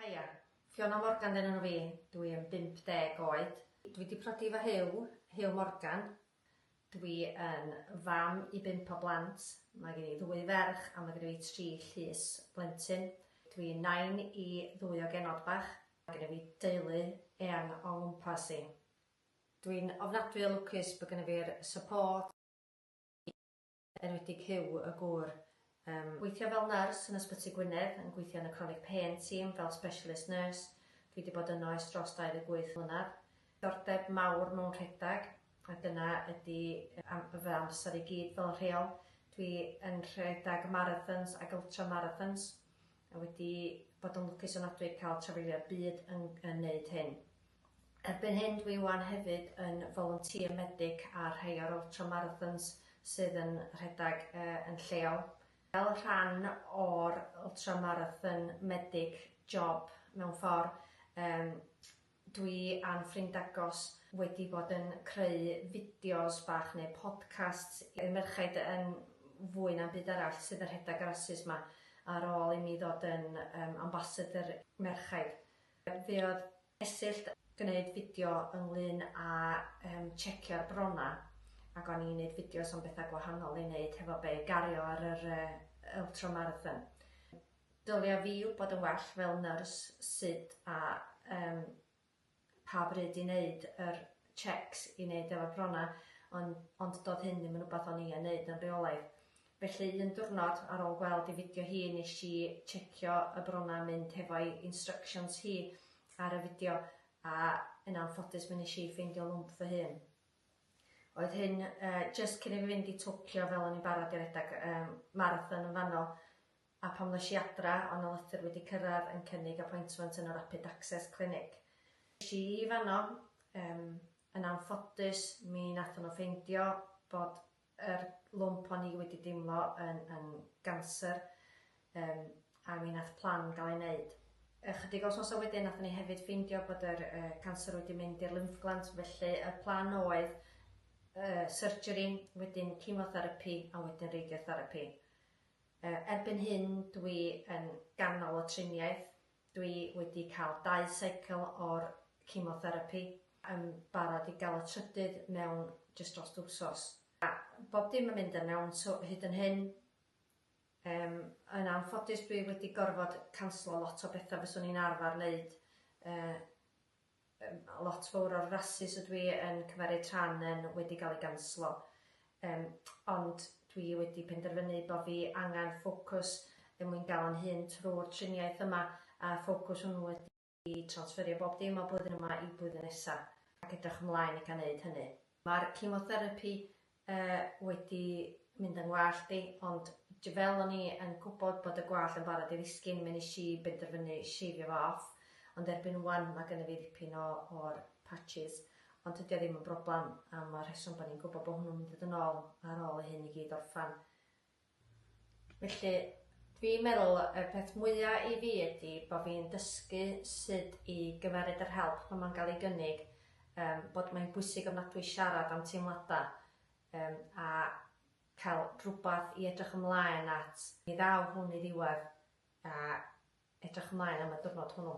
Haia, Fiona Morgan dyn enw fi, dw i yn 50 oed. Dw i 'di prodi efo Huw, Huw Morgan. Dw i yn fam i bump o blant, mae gen i ddwy ferch a mae genna fi tri llys blentyn. Dw i'n nain i ddwy o genod bach. Mae genna fi deulu eang o'n ngwmpas i. Dw i'n ofnadwy o lwcus bod genna fi'r support, enwedig Huw y gŵr. Yym. Gweithio fel nyrs yn Ysbyty Gwynedd, yn gweithio yn y Chronic Pain Team fel Specialist Nurse, dwi 'di bod yno ers dros 28 mlynedd. Diddordeb mawr mewn rhedeg, a dyna ydi am- fy amser i gyd fel rheol. Dwi yn rhedeg marathons ac ultramarathons, a wedi bod yn lwcus ofnadwy i ca'l trafeilio'r byd yn yn neud hyn. Erbyn hyn dwi 'wan hefyd yn volunteer medic ar rhai o'r ultra marathons sydd yn rhedeg yn lleol. Fel rhan o'r ultra marathon medic job mewn ffor yym dwi a'n ffrind agos wedi bod yn creu fideos bach neu podcasts i'r merchaid yn fwy na'm byd arall sydd yn rhedeg y rasys 'ma ar ôl i mi ddod yn yym ambassador merchaid. Fe oedd Esyllt yn gwneud fideo ynglŷn â tshecio'r bronnau ac o'n i'n gwneud fideos am bethau gwahanol i wneud hefo fe i gario ar yr ultramarathon. Dylia fi wybod yn well fel nyrs sut a pa bryd i wneud yr checks i wneud efo'r bronnau ond doedd hyn ddim yn rhywbeth o'n i yn wneud yn rheolaidd. Felly un diwrnod ar ôl gweld ei fideo hi nes i checio y brona mynd hefo'i instructions hi ar y fideo a yn anffodus mi nes i ffeindio lwmp fy hun. Oedd hyn jyst cyn i fi fynd i Tokyo fel o'n i'n barod i redag marathon yn fanno a pam nes i adra o' na lythyr wedi cyrradd yn cynnig appointment yn y Rapid Access Clinic. Es i i fanno, yn anffodus mi nathon nhw ffeindio bod yr lwmp o'n i wedi deimlo yn yn ganser yym a mi nath plan ga'l ei neud. Ychydig o wsnosa wedyn nathon ni hefyd ffeindio bod yr yy canser wedi mynd i'r lymff gland felly y plan oedd yy surgery wedyn chemotherapi a wedyn radiotherapi. Yy erbyn hyn dwi yn ganol y triniaeth Dwi wedi cael dau seicl o'r chemotherapi, yn barod i gael y trydydd mewn jyst drost wsos. A bob dim yn mynd yn iawn so hyd yn hyn. Yym, yn anffodus dwi wedi gorfod canslo lot o betha fyswn i'n arfar neud yy Mae lot fawr o'r rasys ydw i yn cymeryd rhan yn wedi cael ei ganslo. Yym, ond dwi wedi penderfynu bo fi angen ffocws er mwyn gael yn hŷn trwy'r triniaeth yma, a'r ffocws hwnnw ydy transferio bob dim o blwyddyn yma i blwyddyn nesa, ac edrych ymlaen i gael neud hynny. Mae'r cemotherapi Yy, wedi mynd yng ngwallt i, ond j- fel o'n i yn gwybod bod y gwallt yn barod i ddisgyn, mi nes i benderfynu sheifio fo off, ond erbyn ŵan ma' gynna fi ddipyn o o'r patches, ond tydi o ddim yn broblam am y rheswm bo' ni'n gwybod bo' hwnnw'n mynd i ddod yn ôl ar ôl i hyn i gyd orffan. Felly, dwi'n meddwl y peth mwya i fi ydi bo' fi'n dysgu sud i gymeryd yr help pan ma'n ga'l ei gynnig, yym bod mae'n bwysig ofnadwy siarad am teimlada, yym a cael rhwbath i edrych ymlaen at. Mi ddaw hwn i ddiwedd a edrych ymlaen am y diwrnod hwnnw.